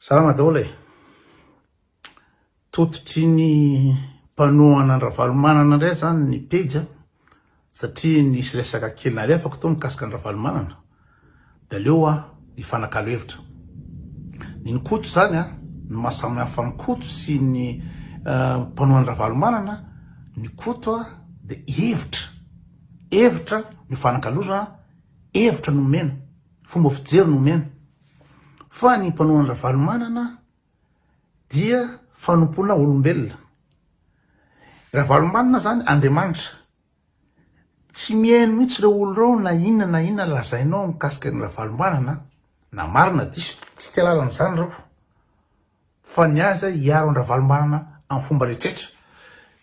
Salama daholo e! Tototry ny mpanohana an-dRavalomanana indray izany ny pejy a! satria nisy resaka kely nalefako tao mikasika an-dRavalomanana dia aleo aho hifanakalo hevitra. Ny ny Koto izany a! ny maha samy hafa ny Koto sy ny mpanohana an-dRavalomanana, ny Koto a! dia hevitra, hevitra no ifanakaloza, hevitra no omena, fomba fijery no omena. fa ny mpanao an'i Ravalomanana dia fanompoana olombelona. Ravalomanana zany Andriamanitra. Tsy mihaino mihitsy ireo olo ireo na inona na inona lazainao mikasika ny Ravalomanana na marina diso tsy te halalana izany ireo. fa ny azy hiaro an-dRavalombanana amin'ny fomba rehetrretra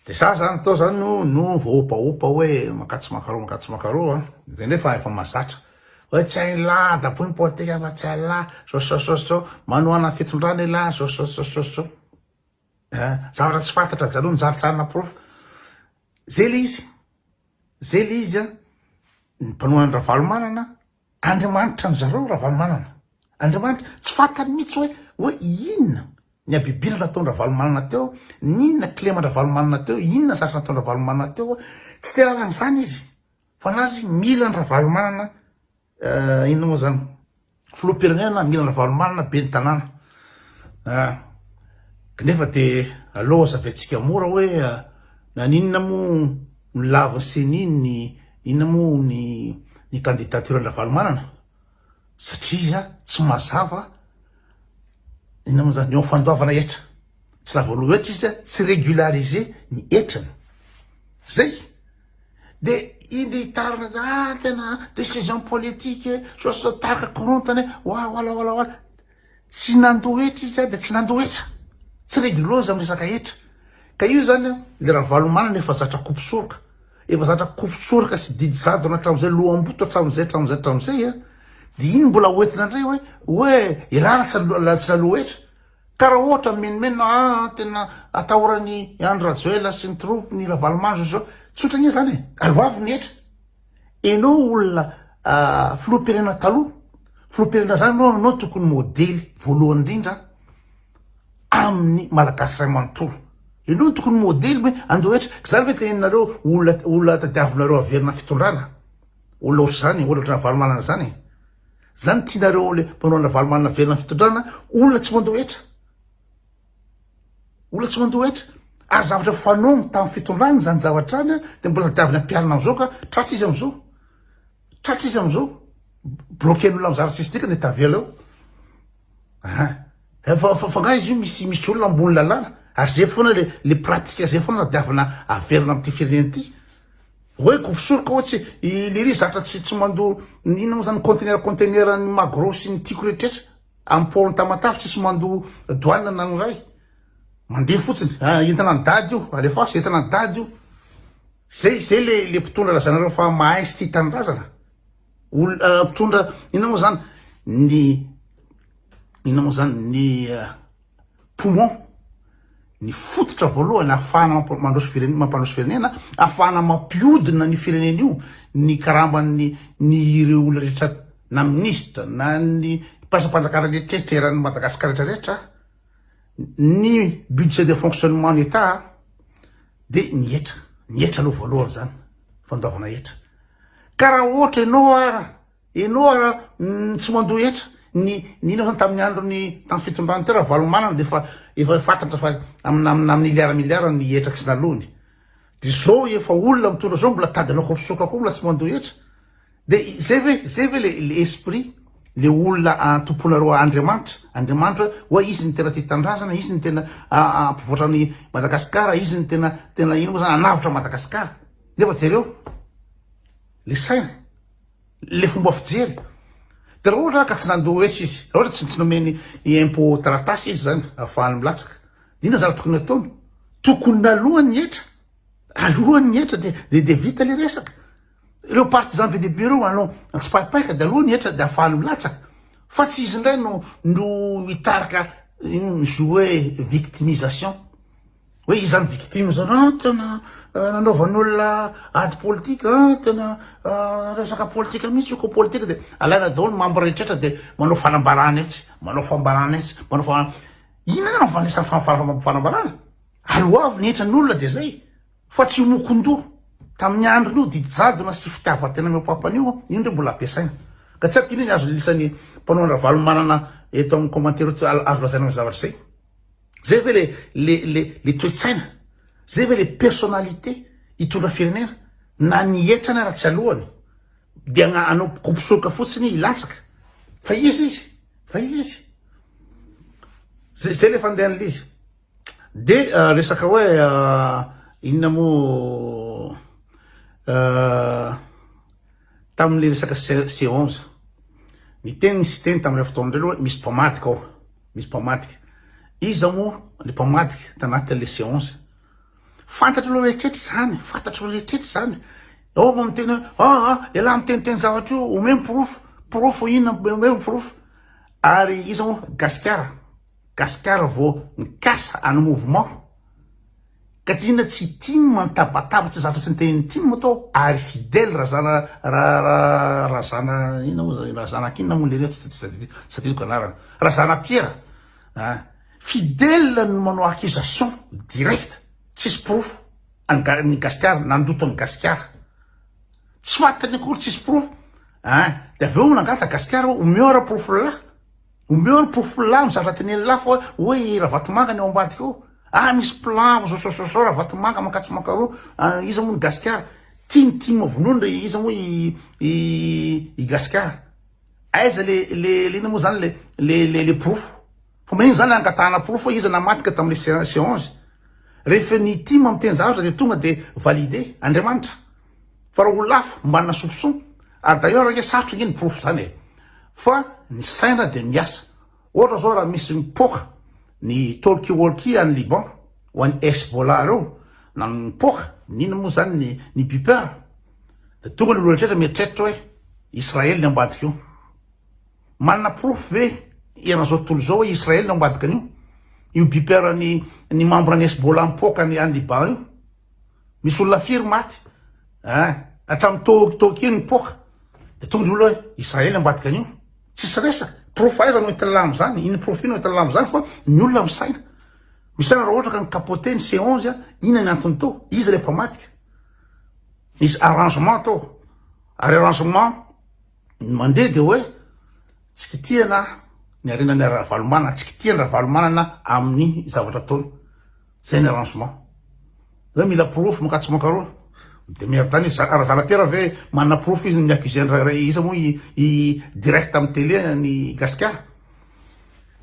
dia za zany atao zany no no voaopaopa hoe maka tsy maka roa maka tsy maka roa dia nefa efa mazatra hoe tsy hain'ny lahy daboy ny politika fa tsy hain'ny lahy sosososososao manohana fitondrana i lahy sosososososao zavatra tsy fantatra jaloha ny zarintsarina porofo zay le izy zay le izy a ny mpanohana an-dRavalomanana Andriamanitra an zareo Ravalomanana. Andriamanitra tsy fantany mitsy hoe hoe inona ny abibil nataon Ravalomanana teo, ninona kileman Ravalomanana teo, inona zatra nataon Ravalomanana teo, tsy te lalana zany izy fa nazy mila an Ravalomanana inona moa zany filoha pirenena mila an Ravalomanana ben tanàna ah knefa de aleo azavetsika mora hoe naninona moa no laviny ceni ny Inona moa ny ny candidature an'i Ravalomanana? Satria iza tsy mazava inona moa zany eo amin'ny fandoavana hetra? Tsy lavo aloha hetra izy dia tsy régulariser ny hetrany. Zay. De inona hitarina ah tena décision politique e, sao sao tarika korontana e, oa oala oala oala. Tsy nandoa hetra izy an, dia tsy nandoa hetra, tsy reguleuse amin'ny resaka hetra, ka io izany an, ilay Ravalomanana efa zatra kopy soroka, efa zatra kopy soroka sy didy jadona hatramin'izay, loham-boto hatramin'izay, hatramin'izay, hatramin'izay an, dia iny mbola hoentina indray hoe, hoe ialana tsy naloa, tsy naloa hetra, ka raha ohatra mimenomenona an, an, tena atahoran'i Andry Rajoel sy ny troupes-ny Ravalomanana izao sy izao, tsotra anie izany e, aleo avy ny hetra. Enao olona filoham-pirenena taloha, filoham-pirenena zany enao enao tokony modely voalohany indrindra amin'ny Malagasy ray manontolo. Enao no tokony modely hoe andao hetra, zany ve teneninareo olona olona tadiavinareo averina fitondrana? Olona ohatr'izany, olona ohatran'i Ravalomanana izany e. Zany tianareo le mpanao an'i Ravalomanana averina fitondrana, olona tsy mandao hetra. Mbola tsy mandoa hetra. Ary zavatra fanaony tamin'ny fitondrany izany zavatra izany dia mbola tadiaviny ampiharina amin'izao ka tratra izy amin'izao. Tratra izy amin'izao. Bloquer ny olona mizara tsisy dikany dia tavela eo. Ah. Efa fa fanga izy io misy misy olona ambony lalàna ary zay foana le le pratique zay foana tadiavina averina amin'ity firenena ity. Hoe groupe soroka hoe tsy i Liri zatra tsy tsy mandoa inona moa zany conteneur conteneur ny magro sy ny tiko rehetra. Am port ny Tamatave tsisy mandoa douane na ny iray. Mandeha fotsiny. Ah entana ny dady io, alefaso entana ny dady io. Zay zay le le mpitondra lazanareo fa mahay sy tia tanindrazana. Ol mpitondra inona moa zany ny inona moa zany ny poumon, ny fototra voalohany ahafahana mandroso firenena, mampandroso firenena, ahafahana mampiodina ny firenena io ny karamban'ny ny ireo olona rehetra na minisitra na ny mpiasam-panjakana rehetra eran'ny Madagasikara rehetra rehetra, ny budget de fonctionnement ny Etat dia ny hetra, ny hetra aloha voalohany izany, fandoavana hetra, ka raha ohatra ianao ara. Ianao ara ny tsy mandoa hetra, ny ny ino zany tamin'ny andron'ny tamin'ny fitondran'i Ty Ravalomanana dia efa efa fantatra fa amina amina miliara miliara ny hetra tsy naloany, dia zao efa olona mitondra zao mbola tady anao kaposoka koa mbola tsy mandoa hetra, dia zay ve zay ve le le esprit le olona tompoinareo Andriamanitra, Andriamanitra hoe oa izy no tena tia tanindrazana, izy no tena hampivoatra an'i Madagasikara, izy no tena tena ino moa zany hanavotra Madagasikara, nefa jereo le saina. le fomba fijery de raha ohatra ka tsy nandoa hetra izy raha ohatra tsy nomeny impo taratasy izy zany afahany milatsaka ina zara tokony ataony tokony nalohan ny hetra alohan ny hetra de de vita le resaka ireo partisan be debe reo anao antsipaipaika de alohan ny hetra de afahany milatsaka fa tsy izy indray no no mitarika mijoue victimisation Hoe iza ny victime zany, ah tena nanaovan'olona ady politique, ah tena resaka politique mihitsy io ko politique dia alaina daholo ny membre rehetra dia manao fanambarana etsy, manao fambarana etsy, manao fambarana, inona no avanesa fanambarana? Aloavy ny hetran'olona dia zay fa tsy homokon-doha tamin'ny androny io didy jadona sy fitiavan-tena mihoapampana io, io indray mbola ampiasaina ka tsy haiko inona ny azon'ny lisany mpanao an-dRavalomanana eto amin'ny commentaire eto azo lazaina ny zavatra izay. Zay ve le le le le toe-tsaina? Zay ve le personnalité hitondra firenena? Na ny hetra na raha tsy aloany dia agna- anao kompisoroka fotsiny hilatsaka fa izy izy fa izy izy zay zay le fandehan'l'izy de ah, resaka hoe ah, inona moa ah, Tamin'ilay resaka C11, niteny ny Siteny tamin'ireo fotoana ireo hoe misy mpamadika ao, misy mpamadika. Iza moa ilay mpamadika tanatin'ilay C11? Fantatr'ireo rehetra izany, fantatr'ireo rehetra izany. Ao no miteny hoe, ah, ah, ialahy miteniteny zavatra io, omeo ny porofo, porofo inona, omeo ny porofo. Ary iza moa? Gasikara. Gasikara vao mikasa any mouvement. Gadrina tsy tim mitabataba tsy zatra tsy niteny tim ato aho ary fidèle razana ra ra razana ina moa zany razana akinona moa lery tsy tsy tadidiko anarany razana piera ah fidèle no manao accusation direct tsisy porofo any ga ny gasikara nandoto an'i gasikara tsy fantany akory tsisy porofo ah de avy eo nangataka gasikara omeo ara porofo lalahy Omeo ny porofo lany zatra teneniny lahy fa hoe i Ravatomanga ny ao ambadika ao. Ah misy plan zao zao zao zao Ravatomanga mankatsia mankaroa ah, iza moa ny Gasikara? Tia ny tim vonoiny re iza moa i i i Gasikara? Aiza le le le inona moa zany le le le le porofo? Fa manino zany angatahana porofo hoe iza namadika tamle se se onze? Rehefa ny tim miteny zavatra de tonga de valide. Andriamanitra Fa raha olona hafa manana soupçon, ary d'ailleurs ange sarotra ange ny porofo zany e, fa ny saina dia miasa. Ohatra zao raha misy mipoaka ny talkie walkie any Liban ho an'i Hezbollah reo, na mipoaka n'inona moa zany ny ny beeper, dia tonga ny olona rehetra mieritreritra hoe Israely ny ao ambadika eo. Manana porofo ve eran'izao tontolo izao hoe Israely ny ao ambadikan'io? Io beeper ny ny membre ny Hezbollah mipoaka any Liban io? Misy olona firy maty eh, hatramin'ny toky toky iny mipoaka. Dia tonga olona hoe Israely ambadika an'io. Tsisy resaka. Porofo aiza no entin'ny lamy izany? Iny porofo iny no entin'ny lamy izany fa ny olona misaina. Misaina raha ohatra ka nikapote ny C11 ina ny antony tao? Iza ilay mpamadika? Nisy arrangement tao. Ary arrangement mandeha dia hoe tsy kitihana ny harenan'ny Ravalomanana, tsy kitihana Ravalomanana amin'ny zavatra ataony. Zay ny arrangement. Zay mila porofo mankatsy mankarwa. Midemeerde any izy. Razalapiera ve manana porofo izy ny mi-accuser ny rairay. Iza moa i direct amin'ny tele an'i Gasikara.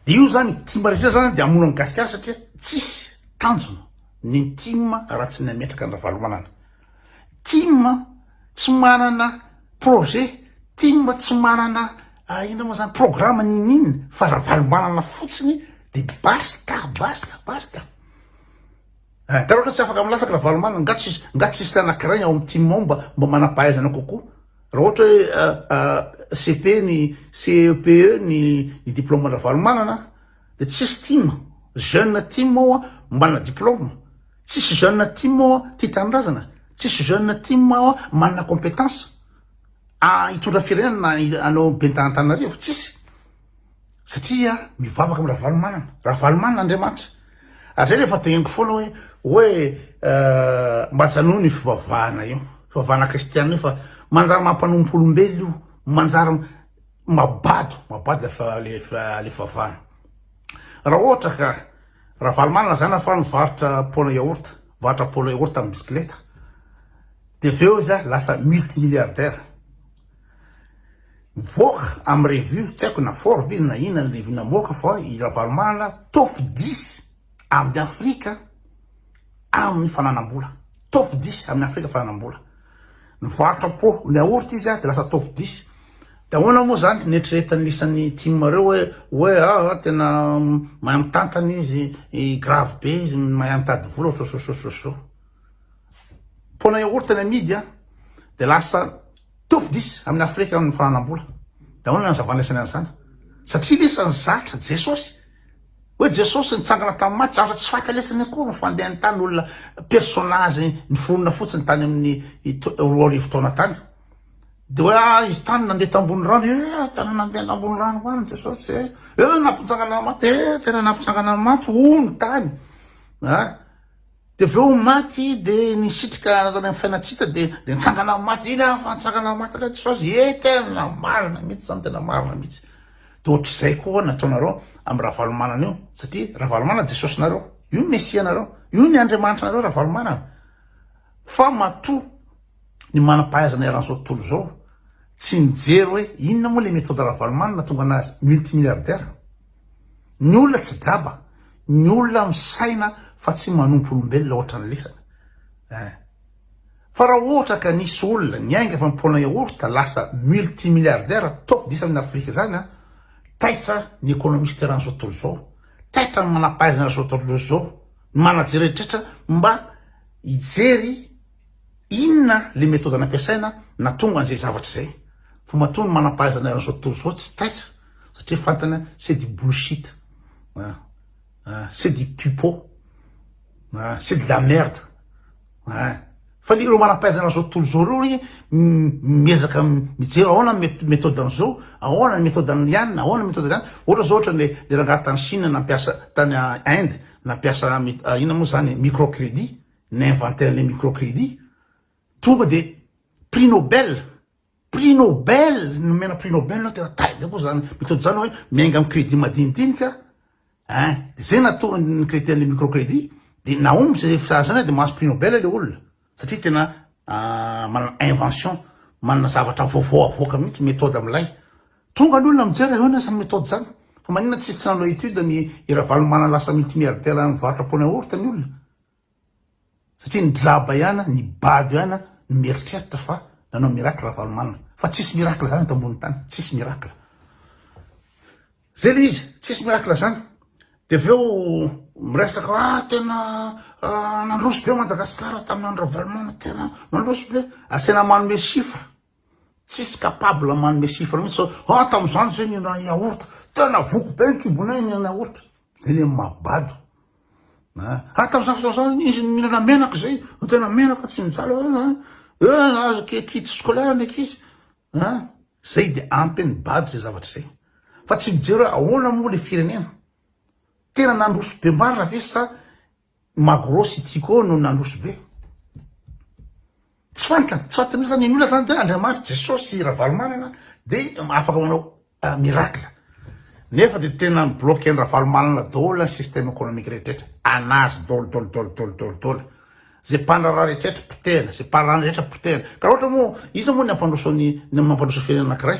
Dia io zany, tim rehetra rehetra zany dia hamono an'i Gasikara satria tsisy tanjona ny tim raha tsy ny hametraka an'i Ravalomanana. Tim tsy manana projet, tim tsy manana inona moa zany programme ninin fa Ravalomanana fotsiny de basta basta basta. Nga raha ohatra tsy afaka milatsaka Ravalomanana nga tsisy nga tsisy anankiray ao amin'ny tim ao mba mba manam-pahaizana kokoa. Raha ohatra hoe CP ny CEPE ny ny diplaoman'i Ravalomanana de tsisy tim, jeune tim ao manana diplaoma. Tsisy jeune tim ao tia tanindrazana, tsisy jeune tim ao manana compétence hitondra firenena na hanao ben'ny tanantananarivo, tsisy satria mivavaka am ravalomanana, ravalomanana andriamanitra, ary zay refa degniko foana hoe hoe mba ajanony io fivavahana io, fivavahana kristiana io fa manjary mampanompo olombelo io, manjary mabado, mabado le fivavahana. Raha ohatra ka Ravalomanana lazaina fa nivarotra pôna yaourt, nivarotra pôna yaourt tamin'ny bisikileta, dia avy eo izy lasa multimilliardaire. Mivoaka amin'ny revue, tsy haiko na Forbes izy na inona ny revue namoaka fa i Ravalomanana top dix amin'ny Afrika. amin'ny fananam-bola. Top dix amin'ny Afrika fananam-bola. Nivarotra po ny yaourt izy dia lasa top dix. Dia ahoana moa izany neritreretan'ny isan'ny tim ireo hoe hoe ah, ah tena mahay mitantana izy, grave be izy, mahay mitady vola sososososo. Pona yaourt ny amidy dia lasa Top dix amin'ny Afrika ny fananam-bola. Daholo ny anazavana isany an'izany. Satria lesany zatra Jesosy. Hoe Jesosy nitsangana tamin'ny maty, zavatra tsy fahatalesany akory ny fandehany tany, olona personnage niforona fotsiny tany amin'ny roa arivo taona tany. Dia hoe ah, izy tany nandeha tambony rano, eh, tena nandeha tambony rano ho any Jesosy, eh, eh, nampitsangana ny maty, eh, tena nampitsangana ny maty, hono tany. Ah. Dia avy eo maty dia nisitrika tany amin'ny Fainantsita dia dia nitsangana amin'ny maty, iny aho fa nitsangana amin'ny maty indray Jesosy, ee tena marina mihitsy izany, tena marina mihitsy. Dia ohatr'izay koa ho'a ny ataonareo amin'i Ravalomanana io, satria Ravalomanana Jesosinareo, io ny Mesianareo, io ny Andriamanitranareo Ravalomanana. Fa matoa ny manam-pahaizana eran'izao tontolo izao tsy nijery hoe inona moa ilay méthode Ravalomanana nahatonga anazy multimilliardaire. Ny olona tsy draba, ny olona misaina fa tsy manompo olombelona ohatra ny lisany. Eh. Fa raha ohatra ka nisy olona niainga fa mipona yaourt lasa multimilliardaire top 10 amin'ny Afrika izany an, taitra ny ekonomista eran'izao tontolo izao, taitra ny manam-pahaizana eran'izao tontolo izao, ny manajery rehetra mba hijery Inona le methode nampiasaina natonga an'izay zavatra izay? Fa matoa ny manampahaizana eran'izao tontolo izao tsy taitra satria fantany c'est du bullshit ah ah c'est du pipo ah c'est de la merde ah fa le ireo manampahaizana eran'izao tontolo izao ireo anie miezaka mijery ahoana ny methode an'izao ahoana ny methode an'i Liana ahoana ny methode an'i Liana ohatra izao ohatra ny le rangahy tany Chine nampiasa tany Inde nampiasa inona moa zany micro credit Ni-inventer le microcredit. Tonga de prix Nobel, prix Nobel, nomena prix Nobel aho tena taivy koa zany mitondra zany hoe miainga am credit madinidinika ein! de zay nahatonga ny creter le microcredit de nahomby zay fisaharana zany de mahazo prix Nobel le olona satria tena manana invention, manana zavatra vaovao avoaka mihitsy methode amilay. Tonga ny olona mijery ahoana zany methode zany? fa maninona tsy tsy nanao étude ny i Ravalomanana lasa multimilliardaire nivarotra pneu yaourt ny olona? Satria ny draba ihana, ny bado ihana no mieritreritra fa nanao miracle Ravalomanana. Fa tsisy miracle zany eto ambony tany, tsisy miracle. Zay le izy, tsisy miracle zany. De avy eo miresaka hoe ah tena nandroso be Madagasikara tamin'ny andro Ravalomanana, tena nandroso be. Asaina manome chiffre. Tsisy capable manome chiffre mihitsy zao, ah tamin'izany zay nihinana yaourt, tena voky be ny kibonay nihinana yaourt, zay ny mabado. Ah tamin'izany fotoana zany izy nihinana menaka zay, tena menaka tsy nijaly, eo nahazo kit scolaire ny ankizy, ah zay dia ampy ny bado zay zavatra zay. Fa tsy mijery hoe ahoana moa le firenena, tena nandroso be marina ve sa Magro sy Tico no nandroso be. Tsy fantatra, tsy fantatra mihitsy zany ny olona zany de hoe Andriamanitra, Jesosy sy Ravalomanana de afaka manao miracle. Nefa de tena mi-bloquer-n'i Ravalomanana daholo ny système économique rehetra, anazy daholo daholo daholo daholo daholo daholo. Ze mpandraharaha rehetra potehina, ze parent rehetra potehina. Ka raha ohatra moa, iza moa ny hampandroso ny, ny mampandroso firenena anankiray?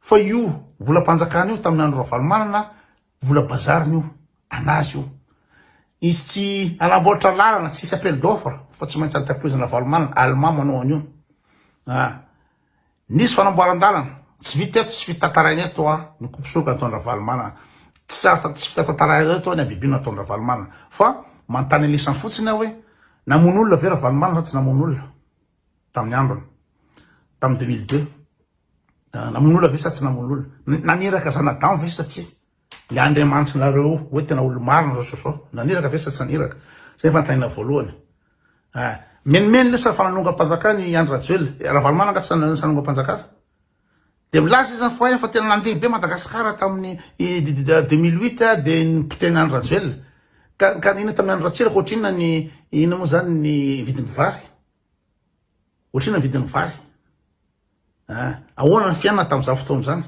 Fa io volam-panjakana io tamin'ny andro Ravalomanana, vola bazariny io, anazy io. Izy tsy hanamboatra lalana, tsy hisy appel d'offre fa tsy maintsy entreprise Ravalomanana, Allemand manao an'io. Ah. Nisy fanamboaran-dalana, tsy vita eto, tsy fitantaraina eto an, ny kopisoroka nataon'i Ravalomanana. Tsy sarotra tsy fitantaraina eto an, ny habibiana nataon'i Ravalomanana. Fa manontany an'isany fotsiny aho hoe, namono olona ve Ravalomanana sa tsy namono olona? tamin'ny ambiny tamin'ny deux mille deux ah, namono olona ve sa tsy namono olona naniraka zanadamo ve sa tsy le andriamanitry nareo hoe tena olomarina zao sosao naniraka ve sa tsy naniraka zay fantaina voalohany ah, menomenona sa fananongampanjakana i andry rajoelina eh, ravalomanana tsy sanongampanjakana Dia milaza izy fa efa tena nandeha be Madagasikara tamin'ny deux mille huit dia nipotehina an'i Rajoelina. Ka ka nino tamin'ny andro Ratsiraka ohatrinona ny inona moa izany ny vidin'ny vary? Ohatrinona ny vidin'ny vary? Ah, ahoana ny fiainana tamin'izany fotoana izany?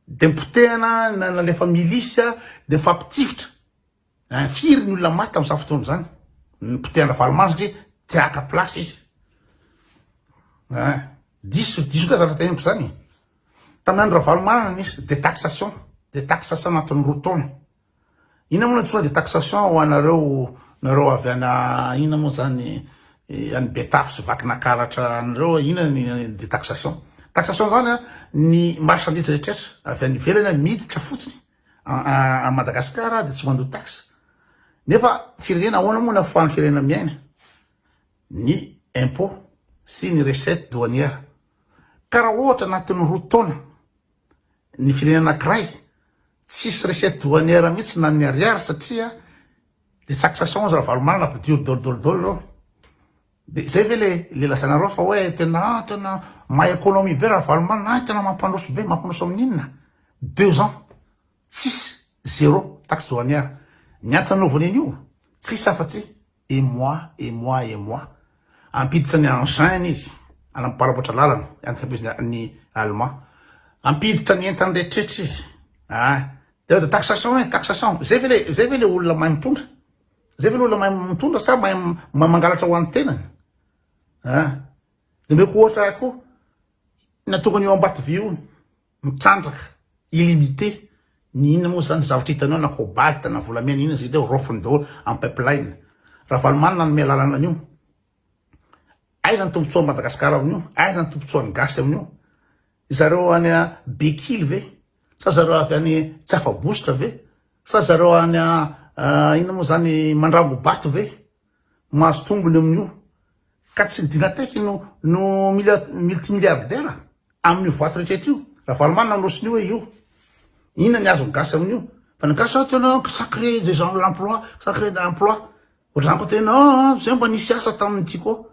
Dia nipotehana nalefa milisy dia nifampitifitra. Hein firy ny olona maty tamin'izany fotoana izany? Ny potehin Ravalomanana satria te haka place izy. Hein diso diso ndray zavatra tempo izany. Tamin'ny andro Ravalomanana nisy detaxation, detaxation anatin'ny roa taona. Inona moa no antsoina detaxation ho anareo nareo avy any inona moa izany any Betafo sy Vakinakaratra any ireo inona ny detaxation? Taxation izany ny marchandise rehetra rehetra avy any ivelany miditra fotsiny A Madagascar dia tsy mandoa taxe nefa firenena ahoana moa nafahan'ny firenena miaina ny impôt sy ny recette douanière ka raha ohatra anatin'ny roa taona ny firenena anankiray tsisy recette douanière mihitsy na ny ariary satria dia tsakisasons ravalomanana ampidio dol dol dol ireo Dia zay ve le le lazainareo fa hoe tena ah tena mahay économie be Ravalomanana ah tena mampandroso be mampandroso amin'ny inona? Deux ans tsisy zéro taxe douanière. Ny antony nanaovan'inio tsisy afa tsy émoi émoi émoi. Hampiditra ny engins-ny izy hanamparapatra lalana entreprise ny allemand. Hampiditra ny entany rehetrrehetra izy ah. Dia taxation eh taxation. Zay ve le zay ve le olona mahay mitondra? Zay ve ny olona mahay mitondra sa mahay mangalatra ho an'ny tenany? Ah, dia omeko ohatra ahy koa ny antongon'io Ambatovy io mitrandraka illimité ny inona moa zany zavatra hitanao na cobalt na volamena inona zay teo raofiny daholo amin'ny pipeline. Ravalomanana nanome alalana an'io. Aiza ny tombontsoa an'i Madagasikara amin'io? Aiza ny tombontsoa an'ny gasy amin'io? Zareo any Bekily ve? Sa zareo avy any tsy afa-bositra ve? Sa zareo any a inona moa zany mandrango bato ve mahazo tombony amin'io ka tsy ny Dynatech no no mila multimilliardaire amin'io vato rehetra rehetra io. Ravalomanana no sonia hoe io inona ny azon'ny gasy amin'io fa ny gasy tena ça crée des gens l'emploi ça crée de l'emploi ohatr'izany koa tena an zay mba nisy asa tamin'ity koa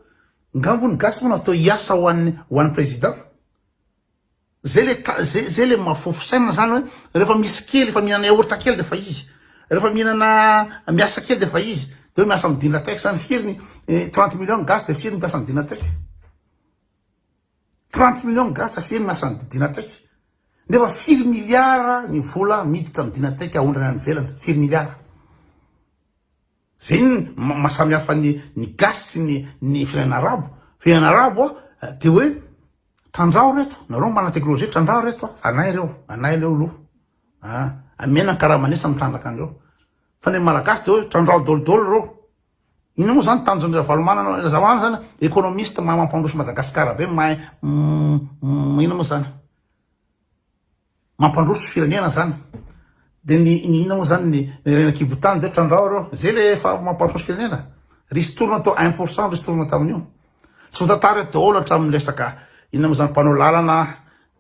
nga moa ny gasy moa natao hiasa ho an'ny ho an'ny président. Zay le ta, zay, zay le mahafofo saina zany hoe rehefa misy kely, efa mihinana yaourt kely de fa izy, rehefa mihinana, miasa kely de fa izy, de hoe miasa am Dynatex zany, firy ny eh, trente millions ny gasy de firy ny mpiasa am Dynatex? Trente millions ny gasy firy ny miasa am Dynatex? Nefa firy milliards ny vola miditra am Dynatex aondrana any ivelany, firy milliards? Zay ny maha samy hafa ny ny gasy sy ny ny firenena arabo, firenena arabo a de hoe trandraho reto nareo manana teknolojia trandraho reto a anay reo anay leo lo a amena ny karamanesa mitrandraka anreo fa ny malagasy de hoe trandraho dolo dolo reo inona moa zany tanjon'i ravalomanana ravalomanana zany economiste mahay mampandroso madagasikara be mahay inona moa zany Mampandroso firenena zany de ny ny inona moa zany ny reny ankibo tany de trandrao reo zay le efa mampandroso firenena risy torina to un pour cent risy torina tamin'io tsy votatary daholo hatramin'ny resaka inona moa zany mpanao lalana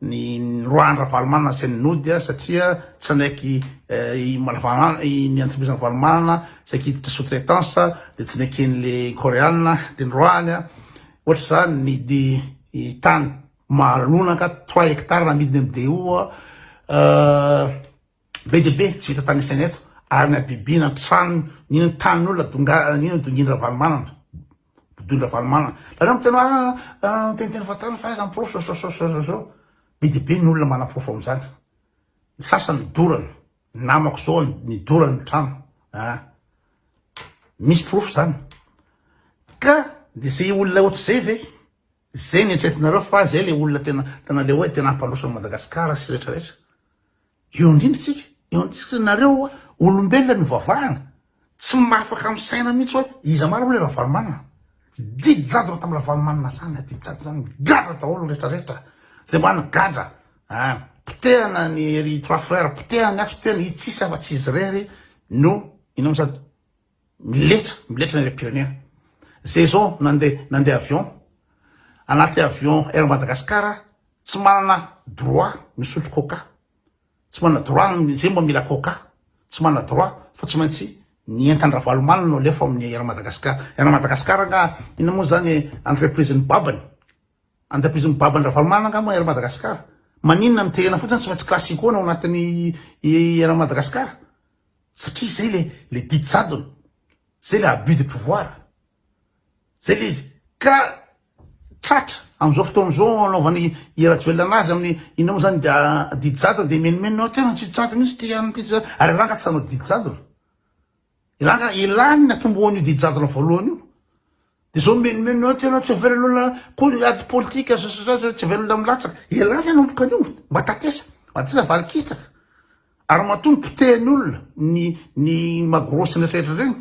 ny roahan'ny ravalomanana sy ny nody a satria tsy anaiky eh, i malavanana i ny entreprise ravalomanana tsy anaiky hiditra sous traitance de tsy neken'le koreana de ny roahany a ohatr'izany ny di- i tany Malona nga trois hectares namidiny am DO a be de be tsy vita tany isaina eto ary nabibiana ny tranony nino ny tanin olona donga nino ny dongin Ravalomanana dongin Ravalomanana nareo miteny hoe a miteniteny fa tany fa aiza ny porofo zao zao zao zao zao be de be ny olona mana porofo am zany ny sasany dorana ny namako zao ny dorany ny trano a misy porofo zany ka de ze olona ohatr'izay ve. Zay ny eritreretinareo fa zay le olona tena tena le oe tena hampandroso an'i Madagascar sy rehetra rehetra. Eo indrindra tsika, eo indrindra nareo oa olombelona nivavahana, tsy mahafaka misaina mihitsy oe iza marina oe Ravalomanana. Didy jadona tam Ravalomanana zany a, didy jadona zany, gadra daholo rehetra rehetra, zay marina gadra a, potehana ny ry trois frères, potehana ny atsy, potehana ny itsy, sisa fa tsy izy rery no inona mo sady. Miletra, miletra ny firenena. Saison nandeha nandeha avion anaty avion Air Madagascar tsy manana droit misotro coca. Tsy manana droit ny zay mba mila coca. Tsy manana droit fa tsy maintsy ny entan-dRavalomanana no alefa amin'ny Air Madagascar. Air Madagascar anga inona moa zany entreprise ny babany. Entreprise ny babany Ravalomanana anga moa Air Madagascar. Maninona miterena fotsiny tsy maintsy classico ny ao anatin'ny Air Madagascar. Satria zay le le didy jadona. Zay le abus de pouvoir. Zay le izy. Ka tratra amzao fotoana zao anaovan i Rajoelina anazy aminy inona mo zany didy jadona de menomenona ao tena didy jadona mintsy ty an ty zany ary ranga tsy hanao didy jadona. Ranga ilany ny atombohan'io didy jadona voalohany io. Dia izao mimenomenona eo tena tsy avelona koa ny ady politika sasasasa tsy avelona milatsaka. Ialahy ny hanomboka an'io, matatesa, matatesa valikitsaka. Ary matoa ny potehany olona, ny, ny magrosy rehetrarehetra ireny,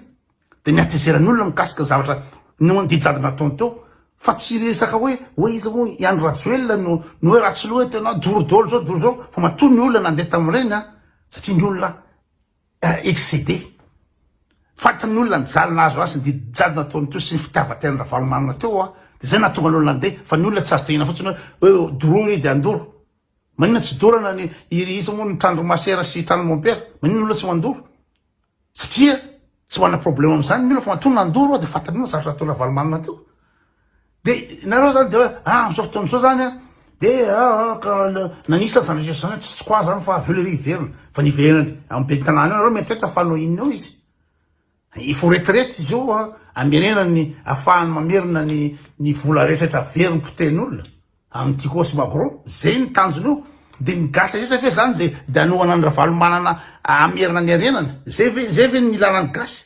dia ny hatezeran'ny olona mikasika ny zavatra no ny dijady nataony teo. Fa tsy resaka hoe, hoe iza moa i Andry Rajoelina no, no hoe Ratsiloha eto ianao, doro dolo izao, doro izao. Fa matoa ny olona nandeha tamin'ireny an, satria ny olona, excédé. Fantan'ny olona ny jaly nahazo azy sy ny didi-jaly nataony teo sy ny fitiavan-tenan'i Ravalomanana teo an, dia izay nahatonga ny olona handeha, fa ny olona tsy azo tohina fotsiny hoe hoe doroy io dia handoro. Maninona tsy dorana ny iry iza moa ny tranodry masera sy tranodry mompera? Maninona ny olona tsy mandoro? Satria tsy manana problème amin'izany ny olona fa matoa nandoro dia fantan'ny olona zavatra nataony Ravalomanana teo. Dia nareo zany dia ah amzao fotoana zao zany an, dia ah, ah ka nanisa zany rehetra zany an, tsy tsy quoi zany fa avy eo le hoe hiverina, fa niverany am ben'ny tanàna eo, nareo mieritreritra fa hanao inona eo izy? efa ho retraite izy io an, amerenany ny afahany mamerina ny ny vola rehetra rehetra averiny potehin'olona am Tico sy Magro, zay ny tanjona io, dia ny gasy rehetra ve zany dia dia anohana an'i Ravalomanana hamerina ny harenany? zay ve zay ve ny ilana ny gasy?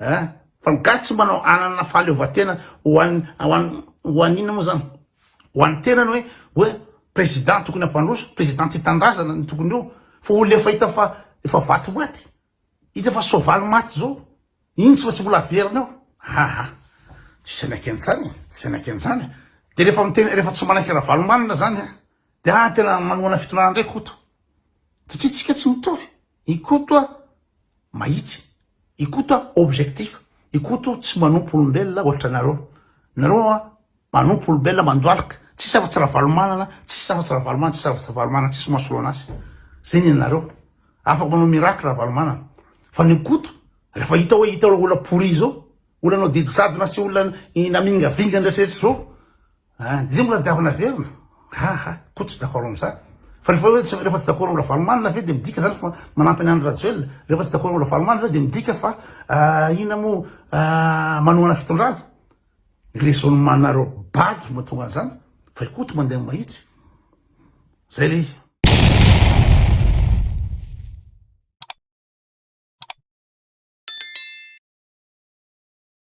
eh, fa ny gasy tsy mba hanana fahaleovantena ho an'ny ho an'ny ho an'ny inona moa zany ho an'ny tenany hoe hoe président tokony hampandroso président ty tanindrazana ny tokony eo fa olona efa hita fa efa vato maty hita fa soavaly maty zao iny tsy fa tsy mbola averina eo haha tsy sanaky an'izany e. tsy sanaky an'izany e. de rehefa miteny rehefa tsy manaiky ravalomanana zany a de ah tena manohana fitondrana ndray koto satria tsika tsy mitovy I Koto a, mahitsy. I Koto a, objectif. I Koto tsy manompo olombelona ohatra anareo. Nareo a, manompo olombelona mandoalika. Tsisy afa-tsy Ravalomanana, tsisy afa-tsy Ravalomanana, tsisy afa-tsy Ravalomanana, tsisy masolona azy. Zay ny anareo. Afaka manao miracle Ravalomanana. Fa ny Koto, rehefa hita hoe hita olona pourri zao, olona nanao didy jadona sy olona namingavingana rehetra rehetra zao, Ah dia mbola diavy naverina? Ha ha, koa tsy dakoro amin'izany. Fa rehefa hoe tsy rehefa tsy dakoro amin'ny Ravalomanana ve dia midika izany fa manampy an'i Andry Rajoelina? Rehefa tsy dakoro amin'ny Ravalomanana ve dia midika fa inona moa manohana fitondrana? Raisonnement-nareo bagy no mahatonga an'izany fa i Koto mandeha mahitsy. Zay ilay izy.